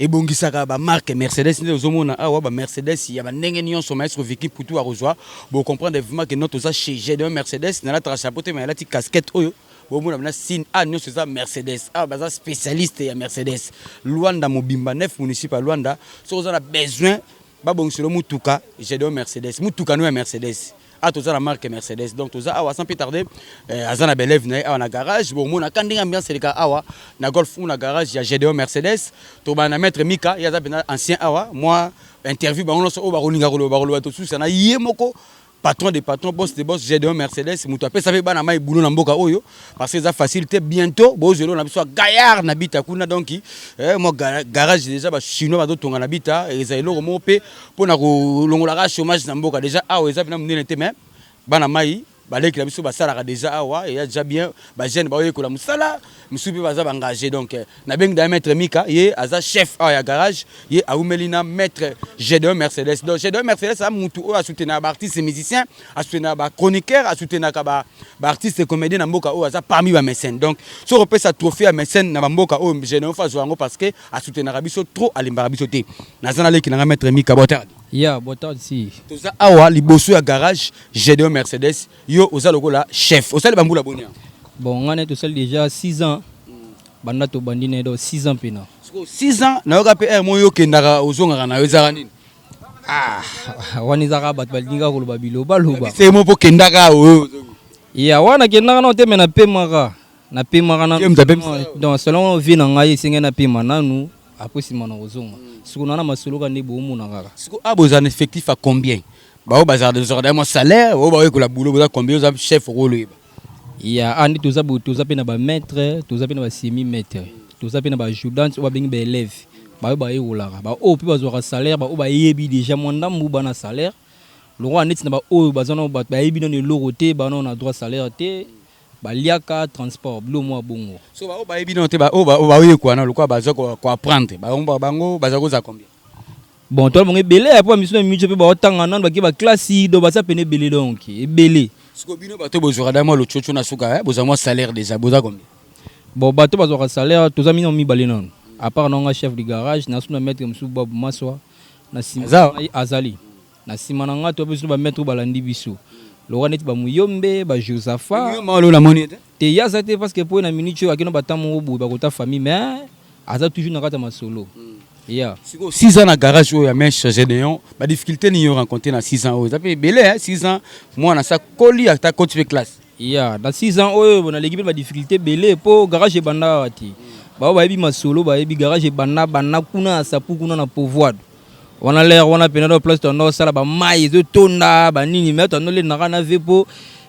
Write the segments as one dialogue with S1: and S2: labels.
S1: ebongisaka ba marque Mercedes nde ozomona awa ba Mercedes ya ba ndenge nyonso maestro Vicky Putu akozwa bo comprendre vraiment que notre oza chez j'ai donc Mercedes na lataka chapeau te mais alati casquette oyo bo mona na signe a nyonso eza Mercedes awa baza spécialiste ya Mercedes Luanda mobimba 9 municipes ya Luanda soki oza na besoin Ba bongisa lo mutuka Gedeon Mercedes. Mutuka no ya Mercedes. Ah toza na marque Mercedes. Donc toza awa sans plus tarder euh, aza na belève na awa na garage. Bon mona kan ndenge ambiance eleka awa na golf ou na garage ya Gedeon Mercedes. To ba na maître Mika, ya za ancien awa. Moi interview bango nyonso oyo bakolinga koloba bakoloba tosusa na ye moko patron de patron boss de boss Gedeon Mercedes mutu apesa pe bana mai boulot na mboka oyo parce que eza facile te bientôt bozelo na biso gaillard na bita kuna donc eh, moi garage déjà ba chinois bazo tonga na bita eza eloko moko pe pona ko longola ka chômage na mboka déjà awa eza pena munene te mais bana mai baleki na biso basalaka déjà awa eya déjà bien ba jeune baoyekola mosala misusu mpe baza baengage donc euh, nabengi da maître mika ye aza chef awa ya garage ye awumeli na maître gedeon mercedes donc gedeon mercedes aza mutu oyo asoutenaka baartiste musicien asoutenaka bachroniqueur asoutenaka baartiste comédien na mboka oyo aza parmi bamécène donc soki opesa trophée ya mécène na bamboka oyo gedeon fo azwa yango parce que asoutenaka biso trop alimbaka biso te naza naleki nanga maître mika botardi ya botardi si
S2: toza awa liboso
S1: ya garage gedeon mercedes Yo oza lokola chef. Osali ba mbula boni awa? Bon nga na ye tosali
S2: dejà 6 ans. Banda tobandi na ye donc 6 ans pena. Sikoyo 6 ans nayoka
S1: mpe heure moko yo okendaka ozongaka na yo ezalaka nini?
S2: Ah, wana eza kaka bato balingi kaka koloba bilobaloba. Yebisa ye moko mpe okendaka
S1: awa oyo ozongi. Ya wana
S2: nakendaka nano te mais napemaka. Napemaka nano. Ye moto apemisa yo? Donc selon vie na ngai esengeli napema nanu après nsima nakozonga. Sikoyo na wana masolo kaka nde boomona kaka. Sikoyo awa bozala na effectif
S1: ya combien? Ba oyo bazalaka tozwaka da mwa salaire, oyo ba oyo ekola boulot boza combien oza chef oko loyeba. Ya awa
S2: nde toza boye toza pe na ba maitre, toza pe na ba semi maitre, toza pe na ba ajudante oyo ba bengi ba eleve ba oyo ba yekolaka ba oyo pe bazwaka salaire ba oyo ba yebi deja mwa ndambu ba na salaire lokola neti na ba oyo baza nano batu ba yebi nano eloko te ba nano na droit ya salaire te ba liaka transport biloko moko ya bongo. Soki ba oyo ba yebi nano te
S1: ba oyo ba oyo ba yekola nano lokola baza ko apprendre ba bango baza kozala combien? Bon, toi
S2: bango ebele ya pa misuna micho pe ba otanga nanu baki ba classe do ba sapene ebele donc ebele. Siko bino bato
S1: bozwaka da mwa lochocho na suka eh bozwa mwa salaire deja boza combien? Bon, bato
S2: bazwaka salaire toza mino mibale nanu. A part na nga chef du garage na suna maitre mosusu Bob Maswa na sima Aza? na ye azali. Na sima na nga toa biso ba maitre balandi biso. Lokola neti ba Muyombe, ba Josaphat. Muyombe wana na moni ye
S1: te? Te ye aza te parce que
S2: po ye na minute oyo ake na ba temps moko boye bakota famille mais aza toujours na kati ya masolo. Yeah. Siko 6 ans na
S1: garage oyo ya Mèche Gédéon, ba difficulté ni yo rencontré na 6 ans oyo. Ça fait belé hein 6 ans, moi na sa koli ata coach pe classe. Yeah, na 6 ans
S2: oyo bona leki pe ba difficulté belé po garage banda wati. Ba ba yebi masolo, ba yebi garage banda banda kuna sapu kuna na pouvoir. Wana l'air wana pena do place tondo sala ba mai zo tonda ba nini mais tondo le naka na ve po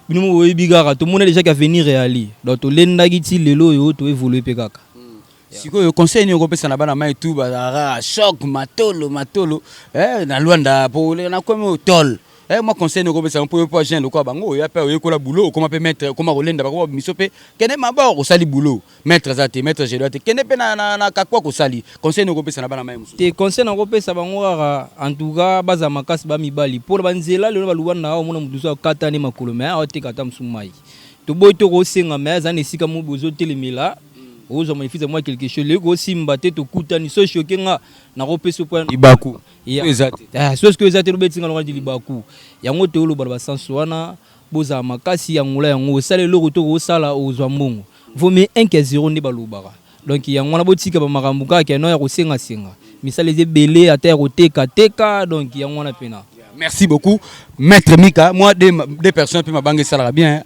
S2: bino mo yebi kaka to mona déjà qu'avenir est ali. Donc to lenda ki ti lelo yo to évoluer pe kaka. Sikoyo
S1: conseil nini okopesa na bana mai tu bazalaka choc matolo matolo eh, na Luanda po oleka na komi otol eh, mwa conseil nini okopesa mpo yo mpo agent lokola bango oya mpe oyekola boulot okoma mpe maître okoma kolenda bakoma biso mpe kende mabor osali boulot maître aza te maître jedoa te kende mpe na, na, na kakwa kosali conseil nini okopesa na bana mai mosusu te conseil nakopesa bango
S2: kaka en tout cas baza makasi ba mibali mpo na banzela lelo baluba na omona moto mosusu akata nde makolo me aoteka ata mosusu mai toboyi tokosenga me aza na esika mo bozotelemela ozo manifeste mwa quelque chose leki osimba te tokutani so choke nga nakopesa mpo libaku eza
S1: te ah,
S2: so sikoyo eza te lobeti nga longaki libaku yango toyoloba na basanso wana bozala makasi ya ngola yango osala eloko to kosala ozwa mbongo vaut mieux 1 que 0 nde balobaka donc yango wana botika bamakambo kaka keno ya kosengasenga misala eza ebele ata ya kotekateka donc yango wana mpena merci beaucoup
S1: maître mika mwa de, de personne mpe
S2: mabanga
S1: esalaka
S2: bien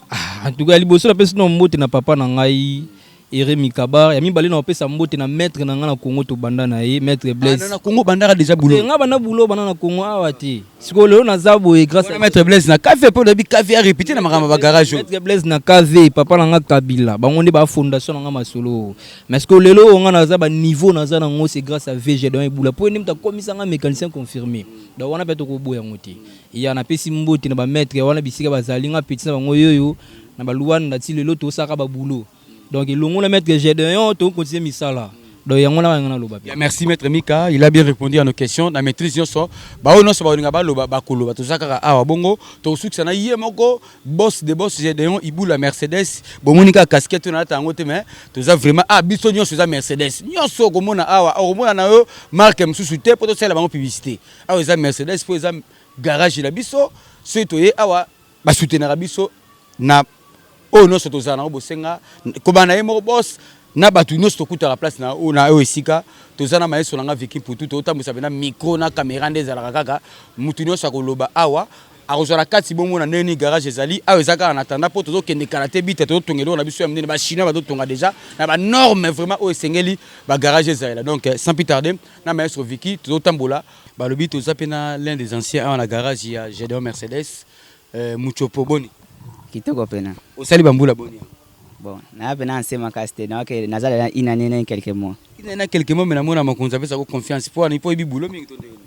S2: Ah,
S1: en
S2: tout cas,
S1: liboso
S2: na pesi na
S1: mbote
S2: na papa na
S1: ngai
S2: Ere Mikabar ya mibale na opesa mbote na maître na ngai na Congo to banda na ye maître ah, Blaise. Ah, na Congo bandaka déjà boulot.
S1: Eh, nga banda boulot banda na
S2: Congo awa te. Siko lelo na zabo et grâce à maître Blaise na café po lobi
S1: café a répété na makamba ba garage. Maître Blaise na café
S2: papa na nga Kabila. Bango nde ba fondation na nga masolo. Mais siko lelo nga na zaba niveau na za na ngo c'est grâce à VG dans Eboula. Po ndim ta komisa nga mécanicien confirmé. Da wana pe to ko boya ngote. Ya napesi mbote na ba maitre wana bisika bazali nga petit na bango yoyo na ba Luanda ti lelo tosaka ba boulot donc elongo na maitre Gedeon to continuer misala donc yango na nga naloba bien. Ya merci maitre Mika
S1: il a bien repondu à nos questions na maitrise nionso ba oyo nionso bakolinga baloba bakoloba toza kaka awa bongo tokosukisa na ye moko boss de boss Gedeon Ibula Mercedes bomoni kaka casquette oyo nalata yango te mais toza vraiment awa biso nionso eza Mercedes nionso okomona awa okomona na yo marque mosusu te po tosalela bango publicite. awa eza Mercedes po eza garage na biso soki toye awa ba soutenaka biso na oyo nyonso tozala nango bosenga kobana na ye moko bos na bato nyonso tokutaka place na oyo esika toza na maestro na nga Vicky Mputu totambwisa mpena micro na camera nde ezalaka kaka moto nyonso akoloba awa akozwa na kati bomona ndenge nini garage ezali awa eza kaka na tanda mpo tozokende kala te bita tozotonga eloko na biso ya monene bachinois bazotonga deja na banorme vraiment oyo esengeli bagarage ezalela donc sans plus tarde na maestro Vicky tozo tambola balobi toza pe na l'un des anciens awa na garage ya Gedeon Mercedes euh, Muchopo boni kitoko pena
S3: osali bambula boni
S1: bon na
S3: pe na ancien makasi te donc naza na une année na quelques mois une année na quelques mois mais na
S1: mona makonza pesa ko confiance po ani po ebi boulot mingi to ndenge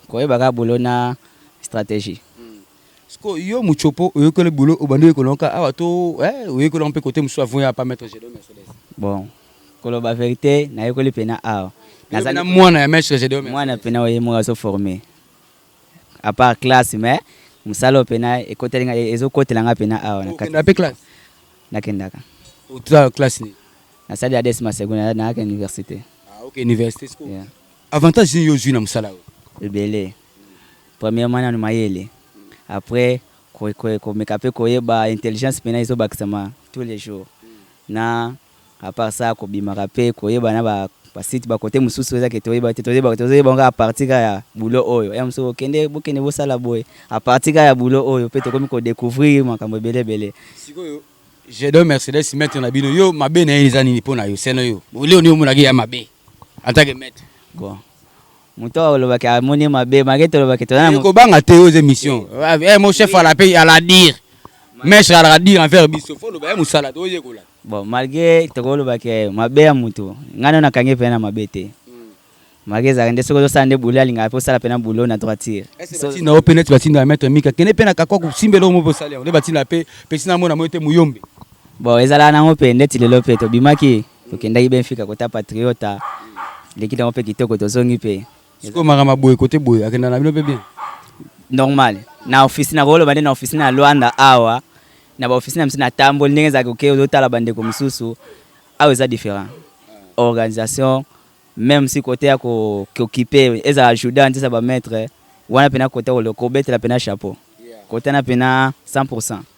S1: koyeba ka
S3: boulot na stratégie Siko
S1: yo mutshopo oyokoli boulot obandi oyekola yango kaka awa to eh oyekoli yango mpe cote mosusu avant oya pa maitre Gedeon Mercedes? Bon
S3: koloba verite nayekoli pena awa Nazali na mwana
S1: ya maitre Gedeon Mercedes? Mwana pena oyo ye moko azo
S3: former à part classe mais mosala oyo pena ekoteli nga ezo kotela nga pena awa na kati. Okenda mpe classe?
S1: Nakendaka.
S3: Oza
S1: classe nini? Nasali ADS
S3: Masegona nayaka universite. Ah oke universite
S1: sikoyo avantage nini yo ozwi na mosala oyo? Ebele.
S3: Premièrement nanu mayele après komeka pe koyeba intelligence pena ezo bakisama tous les jours na à part ça kobimaka pe koyeba na ba ba sites ba cote mususu eza ke toyeba te tozo yeba tozo yeba ngo kaka à partir kaka ya boulot oyo ya mususu okende bokende bosala boye à partir kaka ya boulot oyo pe tokomi ko decouvrir makambo ebele ebele. Sikoyo
S1: Jedon Mercedes maitre na bino yo mabe na ye eza nini pona yo seno yo leo nini omonaki ya mabe en tant que maitre? Bon
S3: Mutu oyo aloba ke amoni ye mabe, malgre toloba ke toza na. Kobanga te oza emission.
S1: Eh mon chef ala pe ala dire. Maitre alaka dire envers biso. Faut oloba ye musala tozo yekola. Bon malgre
S3: tokoloba ke mabe ya mutu, nga nanu nakangi ye pena na mabe te. Malgre ezalaka nde soki ozosala nde boulot alingaka pe osala pena boulot na droiture. Est-ce que batinda yo pe neti
S1: batindaka maitre Mika? Kende pe na Kakuaku simba eloko moko pe osali yango nde batindaka pe Petit Namo namoni te Muyombe. Bon ezalaka
S3: nango pe ndeti lelo pe tobimaki Tokendaki Benfica kota Patriota, leki na yango mpe kitoko, tozongi mpe. Sikoyo makambo ya boye
S1: kote boye akenda na bino mpe bien? Normal.
S3: Na ofisi na koloba nde na ofisi na Luanda awa na ba ofisi na biso na tamboli ndenge ezalaki oke ozotala bandeko mosusu awa eza different organisation même si kote ya kokipe ezala juda ntisa bamaitre wana mpena kota kobetela mpena chapeau kotana mpena 100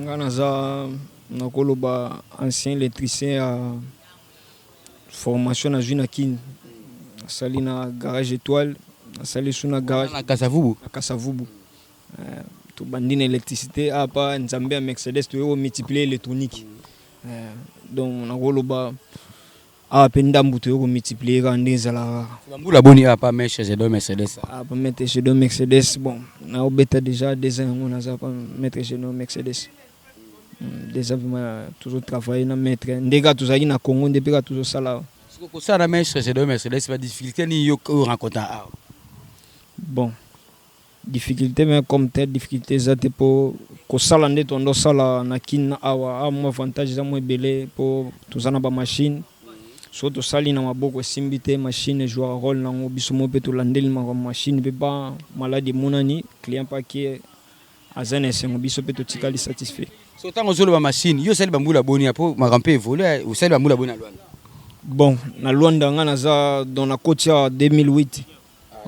S4: Nga naza nakoloba ancien electricien ya formation nazwi na Kin, nasali na garage Etoile, nasali su na garage na Kasavubu, na
S1: Kasavubu. Euh,
S4: tobandi na électricité apa ah, nzambe ya Mercedes toyo multiplier électronique. Euh, donc nakoloba Awa pe ndambu toye ko multiplier kaka nde ezalaka kaka. Ba mbula boni awa pa
S1: Mèche je donne Mercedes awa? Awa pa Mètre je donne
S4: Mercedes bon nao beta dejà deux ans yango naza pa Mètre je donne Mercedes dejà vraiment tozo travailler na Mètre nde kaka tozalaki na Congo nde pe kaka tozo sala awa. Sikoyo ko
S1: sala na Mèche je donne Mercedes ba difficultes nini yo o rencontre awa?
S4: Bon. Difficulte mais comme tel difficulte eza te po kosala nde tondo sala na kin na awa awa mwa avantage eza mwa ebele po toza na ba machine so tosali na maboko esimbi te machine ejouaka role nango biso mo pe tolandeli makambo machine pe ba maladi emonani client pe ake aza na esengo biso pe totikali satisfait so tango ozoloba
S1: machine yo osali bambula boni apo makambo pe evole osali bambula boni na lwanda bon
S4: na lwanda nga naza don na koti ya 2008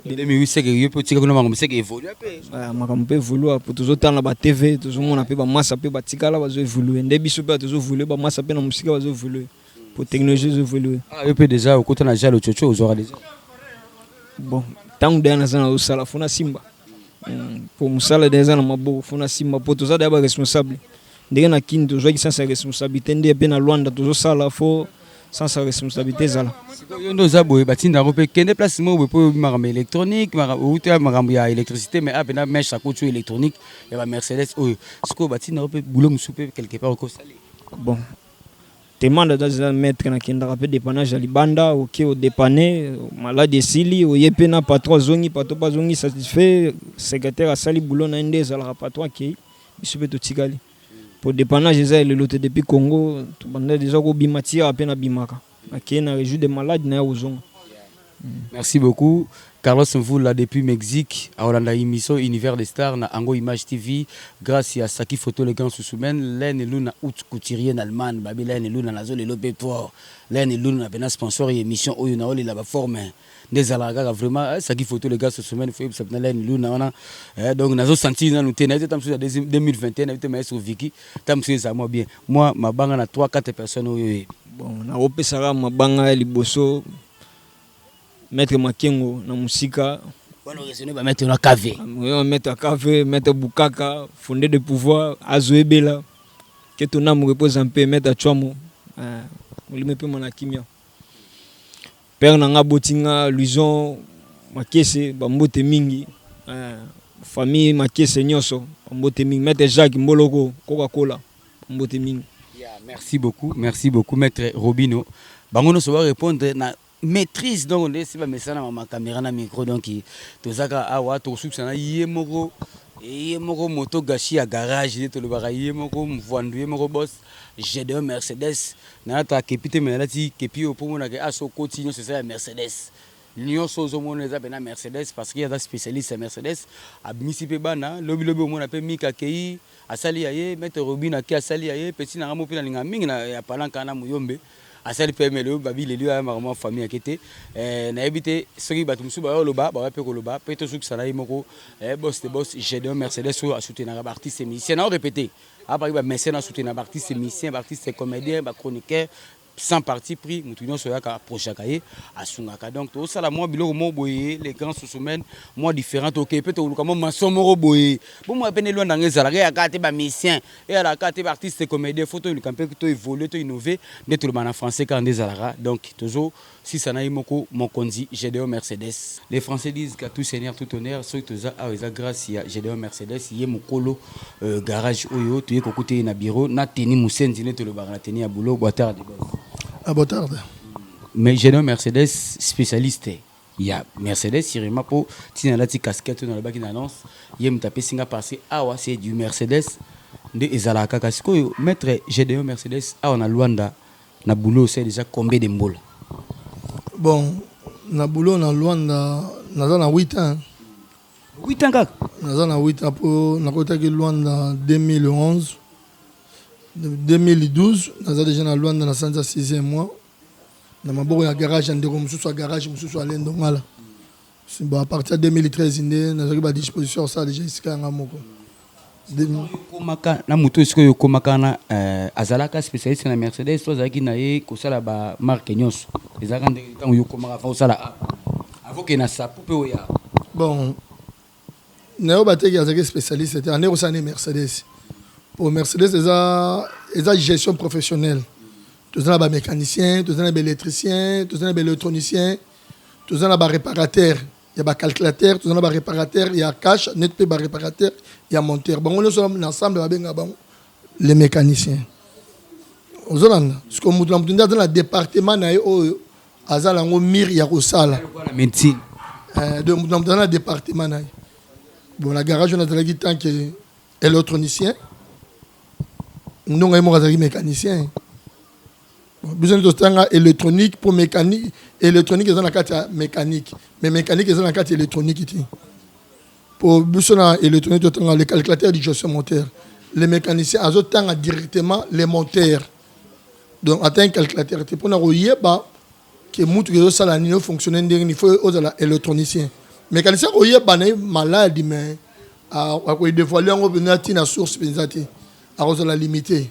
S4: Dede mi
S1: wiseke yo pe otika kuna makambo seke evolue pe. Ah, makambo pe evolue
S4: po tozo tanga ba TV, tozo mona pe ba masa pe batikala bazo evolue. Nde biso pe tozo evolue ba masa pe na musika bazo evolue. Po technologie ezo evolue. Ah, yo pe deja okota
S1: na jalo chocho ozora deja.
S4: Bon, tangu deja naza na osala fona simba. Hmm, po musala deja na maboko fona simba po toza deja ba responsable. Ndenge na kin tozwaki sense ya responsabilite nde pe na Luanda tozo sala fo sans sa responsabilité ezala yo nde oza boye
S1: batinda yango mpe kende place moko boye mpo oyebi makambo ya électronique outi ya makambo ya électricité mais ape na mèche akotio électronique ya ba mercedes oyo sikoyo batinda yango mpe boulot mosusu mpe quelque part okosali bon
S4: demande aza eza maître nakendaka mpe dépannage ya libanda oke odépane maladi esili oye mpe na patron azongi patron mpe azongi satisfait secrétaire asali boulot na ye nde ezalaka patron akei biso mpe totikali po depannage eza ya lelo te depuis congo tobanda deja kobima ti awa mpe nabimaka nakei na rejour de malade na ya kozonga merci
S1: beaucoup carlos mvula depuis mexique akolanda émission univers de star na ango image tv grâce ya saki photo le grand susumen lene luna out couturier na allemagne babi lene luna nazo lelo mpe po lene luna pena sponsor ya émission oyo naolela baforme nde ezalaka kaka vraiment eh, saki photo le gars sosomene fo yebisa mpena line luna wana eh, donc nazo sentir nanu te nayebi te ta mosusu ya 2021 nayebi te maye sur viki ta mosusu ezala mwa bien mwa mabanga na 3 4 personnes oyo oyebi bon nakopesaka
S4: mabanga ya liboso maître makengo na mosika wana oresone
S1: bamaitre na cave oyo maître ya cave
S4: maître bukaka fonde de pouvoir azo ebela ke tonamu repose mpe maître ya chwamo eh, molimo epema na kimia Père na nga aboti nga Louison Makese ba mbote mingi famille Makese nioso ba mbote mingi Maitre Jacques Mboloko Coca Cola ba mbote mingi. Merci beaucoup,
S1: merci beaucoup Maitre Robino. Bango nioso ba repondre na maitrise donc nde si ba mesana ma camera na micro donc tozaka awa tokosukisa na ye moko ye moko moto gashi ya garage nde tolobaka ye moko mvwandu ye moko boss Gedeon Mercedes Nalata kepi te mais nalati kepi oyo po omona ke awa soki okoti nionso eza ya Mercedes. Nionso oyo ozomona eza pena Mercedes parce que ye aza specialiste ya Mercedes. Abimisi pe bana, lobi lobi okomona pe Mika akeyi asali ya ye, Maitre Robin ake asali ya ye, petit na ngai moko pe nalingaka mingi na ya Palanca wana Muyombe asali pe ya ye mais lelo Babi leli oyo ayambaka mua famille ake te eh nayebi te soki batu mosusu baye koloba bakoya pe koloba pe tozokisa na ye moko eh boss de boss Gedeon Mercedes oyo a soutenaka ba artistes et musiciens. Nao repeter. apaki ba message na soutenir ba artistes musiciens ba artistes comediens ba chroniqueurs sans parti pris mutu nyonso oyaka approchaka ye asungaka donc tosala mwa biloko moko boye les grands sousumene mwa différent tokei mpe tokoluka mwa maso moko boye bomoi mpe nde lwanda yango ezalaka eyaka te bamusicien eyalaka te baartiste comédien fo toyoluka mpe to évolue to innove nde toloba na français kaka nde ezalaka donc tozo Sisa na ye moko mokonzi Gedeon Mercedes. Les français disent qu'à tout seigneur tout honneur, soki toza awa eza grace ya Gedeon Mercedes, ye mukolo garage oyo, toye kokuta ye na bureau na tenue musenzi neti tolobaka na tenue ya boulot, boatarde boss. Ah boatarde.
S5: Mais Gedeon
S1: Mercedes specialiste ya Mercedes sirima po tina alati casquette oyo nalobaki na annonce, ye mutu apesi nga parce que awa c'est du Mercedes nde ezalaka kaka, sikoyo maitre Gedeon Mercedes awa na Luanda, Na boulot osali dejà combien de mbula? Bon
S5: na boulot na Luanda naza na huit ans. Huit ans
S1: kaka? Naza na huit ans po
S5: nakotaki Luanda 2011 2012 naza dejà na Luanda na sanza sixième mois na maboko ya garage ya ndeko mosusu ya garage mosusu Alain Dongala. Si bon à partir ya 2013 nde nazwaki ba disposition ya kosala deja esika ya ngai moko Demi- okomaka
S1: na moto oyo sikoyo okomaka na eh, azalaka spécialiste na mercedes to azalaki na ye kosala ba marque nyonso ezalaka ndenge ntango yo okomaka avant osala app avant okende na sapu mpe oya bon
S5: nayo bateki azalaki spécialiste te ande kosala ne mercedes po mercedes eza eza gestion professionnelle toza na bamécanicien toza na baélectricien toza na baélectronicien toza na ba reparateur ya ba calculateur toza na ba reparateur ya cash net mpe ba reparateur ya monteur bango nyonso na ensemble babenga bango le mécanicien ozolanda siko moto na moto nde aza na département na ye oyo aza na yango mire ya kosala médecine
S1: eh, donc moto
S5: na moto aza na département na ye bon na garage wana azalaki tant que électronicien ndonga ye moko azalaki mécanicien biso nde totanga électronique mpo mécanique électronique eza na kati ya mécanique mais mécanique eza na kati ya électronique te mpo biso na électronique totanga le calculateur du gestion moteur le mécanicien azotanga directement le moteur donc ata calculateur te mpona koyeba ke mutuka ezosala nini ofonctionne ndenge nini faut ozala électronicien mécanicien koyeba na ye maladi mais akodevoile yango mpenza ntina source mpenza te akozala limité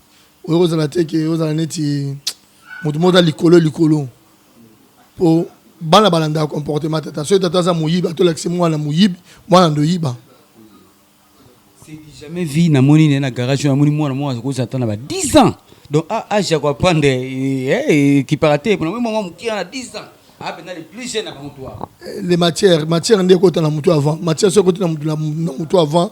S5: oyo kozala te ke ozala neti moto moko aza likolo likolo po bana balandaka comportement tata soki tata aza moyibi atolakisi mwana moyibi mwana ndoyiba
S1: jamais vie namoni naye na garage oyo namoni mwana moko akozala ata na ba 10 ans donc ah, age ya koapprendre ekipaka te pona moi mama mokia na 10 ans ah, mpenza le plus jeune na bango toi eh, le matière
S5: matière nde ekota na motu avant matière soki ekoti na motu avant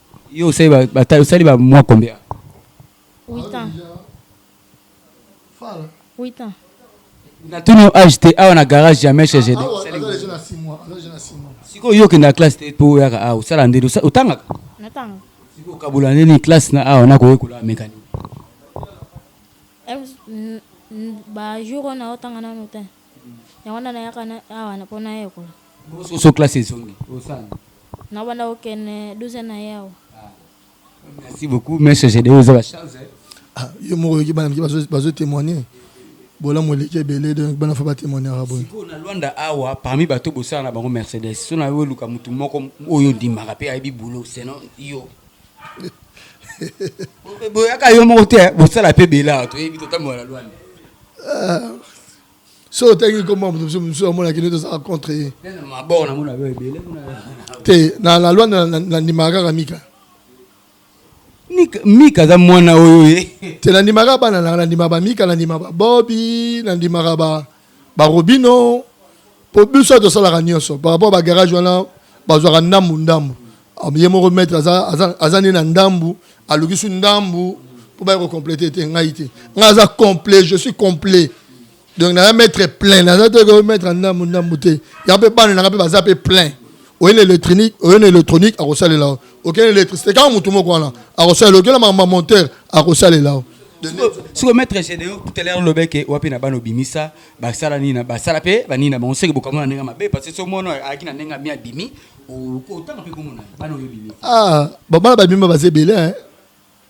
S6: Yo
S1: osali ba, ba, osali ba mois combien?
S6: 8 ans. 8 ans. Na tuni
S1: âge te awa na garage jamais chez GD.
S5: Siko yo
S1: kenda classe te po yaka awa osala ndeni otangaka? Natanga.
S6: Siko kabola
S1: ndeni classe na awa na koye kola mécanique.
S6: Ba jour na otanga na notin. Yango na nayaka awa na pona yekola. Bonjour so classe
S1: ezongi osana. Na banda
S6: kokende 12 na ye awa.
S1: Merci beaucoup monsieur Gedeon oza ba chance. Ah, yo moko
S5: yoki bana mike bazo témoigner bolamu eleki ebele donc bana fo batémoignaka boye sikoyo na lwanda awa
S1: parmi bato bosala na bango mercedes so na yo oluka motu moko oyo ondimaka mpe ayebi bulo seno yo boyaka yo moko te bosala mpe bela toyebi totambola na lwanda ah,
S5: soki otangi nkombo ya moto mosusu mosusu amona kino tozala contre ye
S1: te na
S5: la loi nandimaka kaka mika
S1: mika aza mwana oyo ye te nandimaka bana nanga
S5: nandimaka bamika nandimaka babobi nandimaka barobino mpo biso tosalaka nyonso par rapport bagarage wana bazwaka ndambu ndambu Ah, ye moko maître aza, aza, aza nde na ndambu aluki su ndambu mpo baya kocomplete te ngai te ngai aza complet je suis complet donc naza maître plein naza te ko maître ndambu ndambu te ya mpe bana nanga mpe baza mpe plein oye na électronique oye na électronique akosalela yo oke na électricité kaka motu moko wana akosalela okela makambo ya monteur akosalela yo siko
S1: maître gédeo tout à l'heure lobeke wapi na bana obimisa basala nini basala mpe banini na bango soki bokamona ndenge mabe parce que so mwana ayaki na ndenge ami abimi Ah, babala
S5: babima baza ebele hein.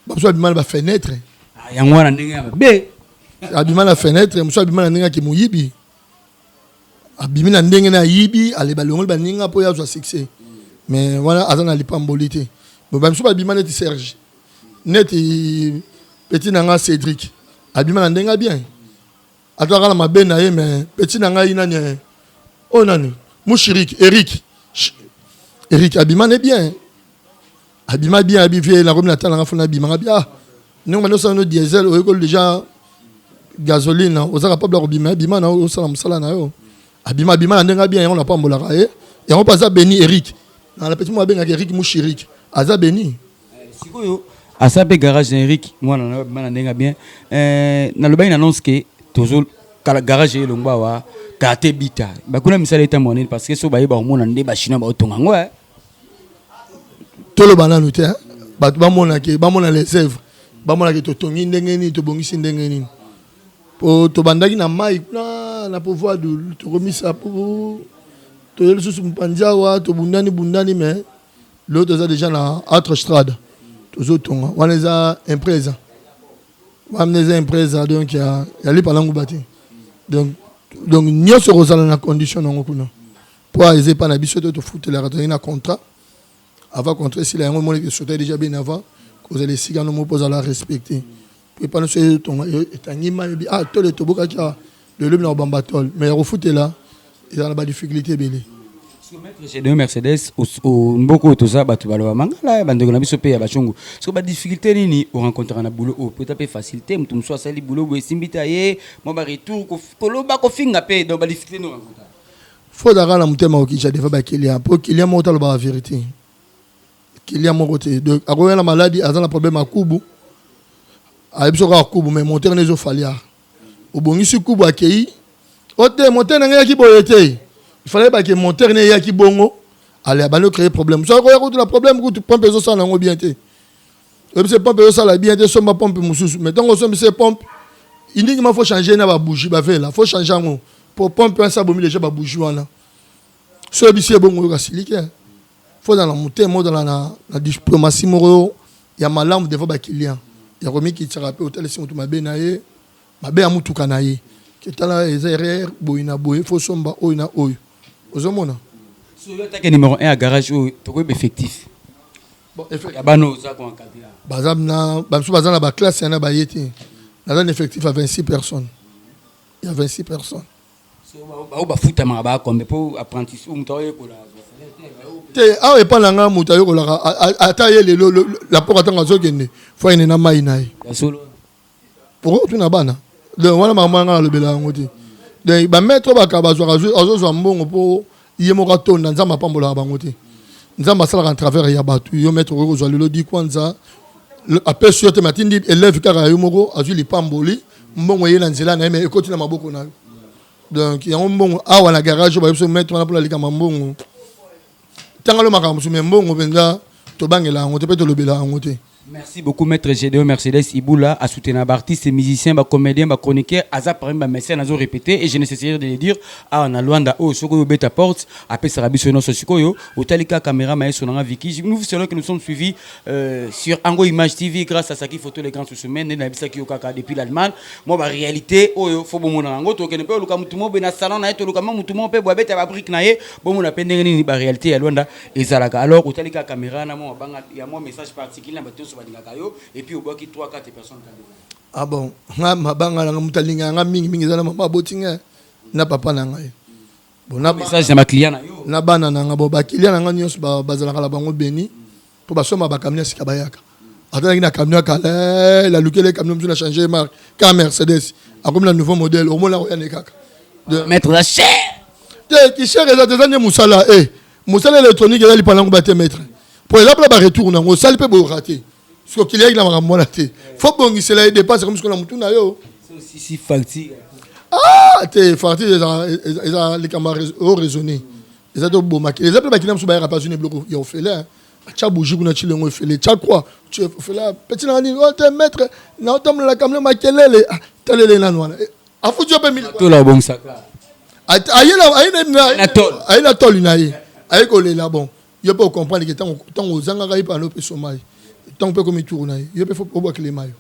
S5: bamosusu babima na bafenetre ah, yango wana
S1: ndenge ya babe abima na
S5: fenetre mosusu abima na ndenge ya kimoyibi abimi na ndenge na ayibi aleba longoli baninga mpo ye azwa succès mais wana aza na lipamboli te bamisusu babima neti serge neti petit na nga cédric abima na ndenge ya bien Aza kala mabe na ye mais petit na ngai nani eh? Oh nani? Mushirik Eric. Eric abima ne bien. Abima bien abi vie na komi na tala nga fona bima nga bia. Ndenge bando sala no diesel oyo ko déjà gasoline oza capable ya kobima abima na osala mosala na yo. Abima abima na ndenge bien yango na pambolaka ye. Yango pa aza beni Eric. Na la petit mo abengaka Eric Mushirik. Aza beni. sikoyo
S1: asa mpe garage na eric mwana na bana ndenge ya bien euh, nalobaki na annonce ke tozo kala garage ye elongba wa karte bita bakuna misala eta mwanini parce que so bayeba komona nde bachinois baotonga yango eh.
S5: toloba nanu te eh. bato bamonake bamona les œuvres bamonake totongi ndenge nini tobongisi ndenge nini po tobandaki na mai kuna na pouvoir tokomisa po toye lisusu mpanzi awa tobundani bundani mais l'autre eza déjà na autre strade tozotonga wana eza impresa wana eza impresa donc ya, ya lipa na nguba te donc, donc nyonso ekozala na condition nango kuna mpo eza epai na biso te tofutelaka tozali na contrat avant contrat esila yango emonaki esota deja bien avant kozala esika no moko mpo ozala respecte mpo epai nyonso etonga etangima ebi ah tole tobokaki awa loyelobi na kobamba tole mais ya kofutela ezala na badifficulté ebele Gédéon
S1: Mercedes mboko toza bato baloba mangala bandeko na biso mpe ya bashungu soki badifficulté nini orencontraka na boulot oyo mpo eza mpe facilité moto mosusu asali boulot boye esimbi te aye mwa baretour koloba kofinga mpe donc badifficulté nini orencontraka fo ozalaka na
S5: motema kokija deva bakiliya mpo kiliya moko talobaka verité Client moko te donc akoya na maladi aza na problème ya kubu ayebi soki kaka kubu mais moteur nezo falia obongisi kubu akei o te moteur na ngai yaki boye te il fallait bake moteur ne yaki bongo ale abandi ocreye problème soki akoya kutu na problème kutu pompe ezosala na yango bien te oyebi se pompe ezosala bien te somba pompe mosusu mais ntango osombi se pompe indingi ma faut changer na babougie bavela faut changer yango po pompe wana sa bomi deja babougie wana so oyebisi ye bongo oyoka silike faut ozala na motema ozala na, na diplomatie moko ya malamu devant ba clients ya komikitisaka mpe otalisi moto mabe na ye mabe ya motuka na ye ketala eza erreur boye na boye faut somba oyo na oyo ozomona soyotake
S1: numéro 1 ya garage oyo tokoyeba effectif
S5: ya bana oza koencadre
S1: baza na bamisu
S5: baza na baklasse yana baye te naza na effectif ya 26 personnes ya 26 personnes
S1: baoyo bafutamaka baakombe mpo apprentissage moto aoyekola te
S5: awa epai na ngai moto ayokolaka ata ye lelo lapoko ntango azokende fo ayende na mai na ye okoki kotuna bana donc wana makambo ya ngai nalobela yango te donc bametre oyo bakaba azwaka azozwa mbongo mpo ye moko atonda nzambe apambolaka bango te nzambe asalaka na travers ya bato yo maître okoki kozwa lelo di kwanza apesi yo te me atindi élève kaka yo moko azwi lipamboli mbongo eye na nzela na ye me ekoti na maboko na yo donc yango mbongo awa na garage oyo bayebiso maître wana mpona likama mbongo tangalo makambo mosusu me mbongo mpenza tobangela yango te mpe tolobela yango te Merci beaucoup maitre
S1: Gedeon Mercedes Iboula a soutenu ba artistes, musiciens, ba comédiens, ba chroniqueurs, aza parmi ba messieurs nazo répéter et je ne cesserai de le dire awa na Luanda oyo soko yo beta porte apesaka biso nyonso sikoyo otali ka caméra maestro nanga Vicky nous vous saluons que nous sommes suivis euh, sur Ango Image TV grâce à Saki Photo les grands sous semaine nde nayebisaki yo kaka depuis l'Allemagne moi ba réalité oyo faut bomona yango tokende mpe oluka mutu moko boye na salon na ye toluka mwa mutu moko mpe boye abeta ba brique na ye bomona mpe ndenge nini ba réalité ya Luanda ezalaka alors otali kaka camera na mwa mabanga ya mwa message particulier na bato nyonso balingaka yo et puis obwaki 3 4 personnes kande ah bon
S5: nga mabanga na nga moto alingaka nga mingi mingi eza na mama aboti nga na papa na ngai bon na message na bakliya na yo
S1: na bana na nga bon bakiliya
S5: na nga nyonso bazalaka na bango beni mpo basomba bakamina sika bayaka atandaki na camion ya kala lalukele camion mosusu na change marque ka mercedes akomi na nouveau modèle omona akoya ne kaka maître oza
S1: cher te kisher
S5: eza te eza nde mosala e mosala électronique eza lipa nango bate maître mpo eza mpona baretour nango osali mpe boyoka te soki okiliaki na makambo wana te fo bongisela ye dépense ekomi sikoyo na motu na yo sisi facture
S1: ah
S5: te facture eza likambo o raisonné eza tobomaki eza mpe bakina mosusu bayaka mpe azwi na biloko ya ofele atia bougie kuna tshile yango efele tya kwa ofela peti nanga nini ote oh, maître na otambolela kamle makelele ah, talele nanu wana eh, afuti yo mpe militola
S1: obongisaka
S5: aye na toli na ye aye kolela bon yo mpe ocomprendre ke ntango ozangaka ye pano mpe soma ye ntango mpe ekomi turu na ye yo mpe fo obwakilema yo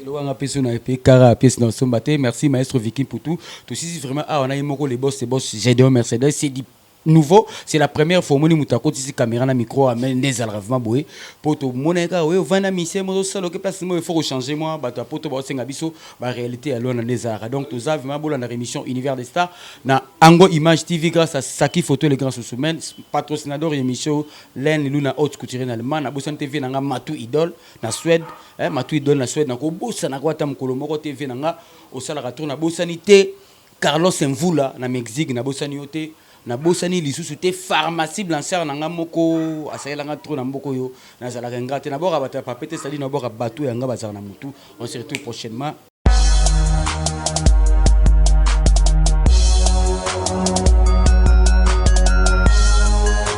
S5: elobanga mpeso na epe kara apesi
S1: na osomba te merci maestro viking putu tosisi vraiment awa na ye moko le boss le boss gédéon mercedes c'est du Nouveau c'est la première fois omoni mutu akotisi camera na micro awa mais nde ezalaka vraiment boye po tomona ye kaka oye ovandi na musee mozo sala oke place moye faut ko changer mua batu ya poto bao senga biso ba realite ya luanda nde ezalaka donc toza vraiment bolandaka emission univers des stars na ango image TV grace à saki photo le grand sousou men patrocinador ya emission oyo laine luna haute couturier na allemand na bosani te vie na nga matou idole na suede eh matou idole na suede nako bosanaka yo ata mukolo moko te vie na nga osalaka trop na bosani te Carlos Mvula na Mexique na bosani yo te na bosani lisusu te pharmacie blanchard na nga moko asalela nga trop na mboka oyo na zalaka ingra te na bwaka bato ya pape te sadi na bwaka bato ya nga bazala na mutu on se retrouve prochainement